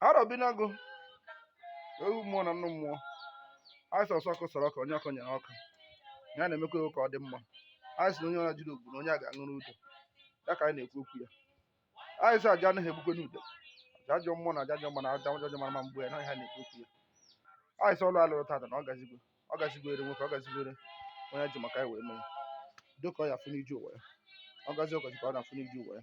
arọbinagụ ewu mmụọ na nnụ mmụọ anyị sọsọ ọkụ sọrọ ọkụ onye ọkụ nyere ọkụ ya na-emekwa ewu ka ọ dị mma anyị sị na onye ọra jiri ogbu na onye a ga-aṅụrụ udo ya ka anyị na-ekwu okwu ya anyị sị aja anaghị egbukwanụ udele aja ajọ mmụọ na aja ajọ mmụọ na aja ajọ mmadụ ama egbu ya na ọ ihe a na-ekwu okwu ya anyị sị ọlụ a lụrụ tata na ọ gazigwe ọ gazigwere nwoke ọ gazigwere onye ji maka ya wee mee dịka ọ ya afụ n'ije ụwa ya ọ gazi ọ gazi ka ọ na-afụ n'ije ụwa ya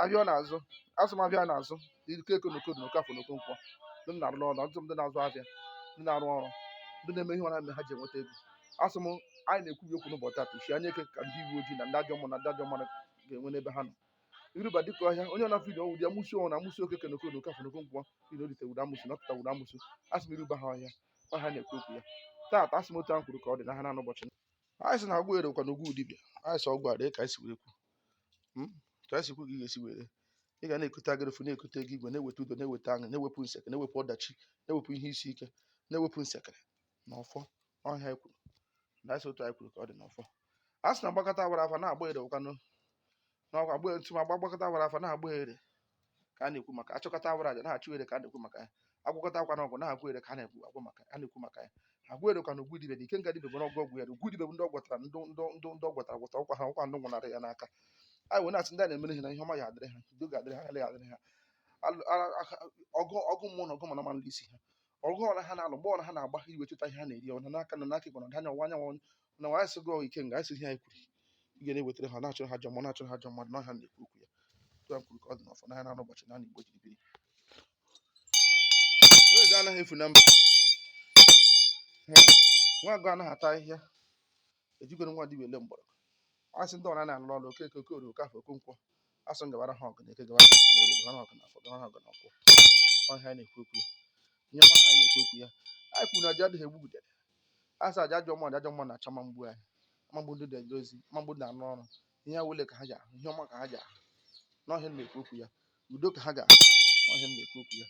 ahịa ọ na-azụ asị m ahịa na-azụ okeke na okoro na okafọ na okonkwo ndị na-arụ n'ọrụ ọtụtụ ndị na-azụ ahịa ndị na-arụ ọrụ ndị na-eme ihe ọra mere ha ji enweta ego asị m anyị na-ekwubi okwu n'ụbọchị tata uchi anya eke ka ndị uwe ojii na ndị ajọ mmụọ na ndị ajọ mmadụ ga-enwe n'ebe ha nọ iruba dịka ọhịa onye ọ na-afụ ide ọnwụ dị amusu ọnwụ na amusu okeke na okoro okafọ na okonkwo iri o lite wụrụ amusu na ọ pụta wụrụ amusu asị m iruba ha ọhịa ọ ihe a na-ekwu okwu ya tata asị m otu ahụ kwuru ka ọ dị na ha na n'ụbọchị anyị sị na agwọ ere kwa na ugwu dibịa anyị sị ọgwụ a dị ka anyị si were kwu hmm? ka a si kwu ka ị ga-esi were ị ga na-ekute agịrịfụ na-ekute ego igwe na-eweta udo na-eweta aṅụ na-ewepụ nsekere na-ewepụ ọdachi na-ewepụ ihe isi ike na-ewepụ nsekere na ọfọ ọ ihe anyị kwuru na asị otu anyị kwuru ka ọ dị n'ọfọ a sị na agbakata awara afa na-agba ere ụkwanụ n'ọkwa agba etu ma agbakata awara afa na-agba ere ka a na-ekwu maka achụkata awara aja na-achụ ere ka a na-ekwu maka ya agwọkata kwanụ ọgwụ na-agwọ ere ka a na-ekwu agwụ maka a na-ekwu maka ya agwọ ere ka na ugwu dibe na ike nga dibe bụ n'ọgwụ ọgwụ ya na ugwu dibe bụ ndị ọ gwọtara ndị ndị ndị ndị ọ gwọtara gwọtara ọkwa ha ọkwa ndị nwụnara ya n'aka anyị wee na-asị ndị a na-emere ihe na ihe ọma ga-adịrị ha udo ga-adịrị ha ọganihu adịrị ha Alụ- a- a- ọgụ ọgụ mmụọ na ọgụ mmadụ ama alụ isi ha ọgụ ọra ha na-alụ mgba ọra ha na-agba ha ji wee chụta ihe ha na-eri ọna n'aka nri n'aka ịkpa ọda anya ọwa anyanwụ na nwa asị gị ọgụ ike nga asị ihe anyị kwuru ị ga na-ewetara ha na-achụrụ ha ajọ mmụọ na-achụrụ ha ajọ mmadụ na ọ ihe a na-ekwu okwu ya otu a kwuru ka ọ dị n'ọfọ na ya na-anụ ụbọchị na igbo jiri biri onye ga anaghị efu na mba nwa agụ anaghị ata ahịhịa ejikwarọ nwa dibịa ele mgbọrọgwụ asị ndị ọra a na-alụ ọrụ okeke okorie okafọ okonkwo asị unu gabara ha ọgụ na eke gabara ha ọgụ na orie gabara ha ọgụ na afọ gabara ha ọgụ na nkwọ ọ ihe anyị na-ekwu okwu ya ihe ọma ka anyị na-ekwu okwu ya anyị kwuru na aja adịghị egbu udele asị aja ajọ mmụọ ajọ mmadụ na-achụ ama egbu anyị ama egbu ndị na-eje ozi ama egbu ndị na-arụ ọrụ ihe awele ka ha ji ahụ ihe ọma ka ha ji ahụ n'ọ ihe a na-ekwu okwu ya udo ka ha ga-ahụ n'ọ ihe a na-ekwu okwu ya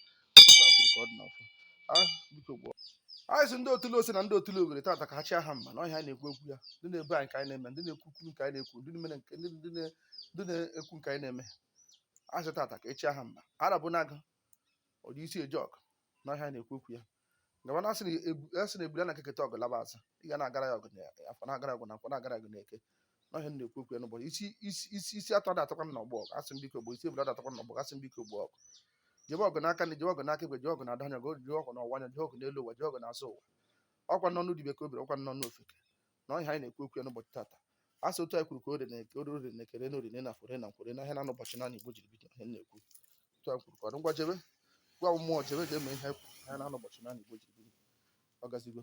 anyị sị ndị otule ose na ndị otule ogere tata ka echi ha mma n'ọ ihe a na-ekwu okwu ya ndị na-ebu anyị nke anyị na-eme ndị na-ekwu okwu nke anyị na-ekwu ndị na-eme nke ndị na-ekwu nke anyị na-eme asị tata ka echi ha mma arọbinagụ o ji isi eje ọgụ n'ọ ihe a na-ekwu okwu ya Gawa na-asị na ebu asị na ebule na-akeketa ọgụ laba azụ ị ga na-agara ya ọgụ na afọ na-agara ọgụ na nkwọ na-agara ọgụ na eke n'ọ ihe m na-ekwu okwu ya n'ụbọchị isi isi isi isi atụ ada atọkwa n'ọgbọ ọgụ asị m biko gbo isi ebule ada atọkwa n'ọgbọ ọgụ asị m biko gbo ọgụ jebe ọgụ n'aka nri jebe ọgụ n'aka ekpe jebe ọgụ na ọda anya ọgụ jebe ọgụ na ọwa anya jebe ọgụ n'elu ụwa jebe ọgụ n'azụ ụwa ọkwa n'ọnụ dibe ka o biri ọkwa n'ọnụ ofeke na ọhịa anyị na-ekwu okwu ya n'ụbọchị tata a sị otu anyị kwuru ka o ree n'Eke ree n'Orie ree n'Afọ ree na Nkwọ ree n'ahịa na anọ ụbọchị na anọ Igbo jiri bido ihe na-ekwu otu anyị kwuru ka ọ dị ngwa jebe gwa mmụọ jebe ga-eme ihe anyị kwuru ahịa na anọ ụbọchị na anọ Igbo jiri bido ọ gazigo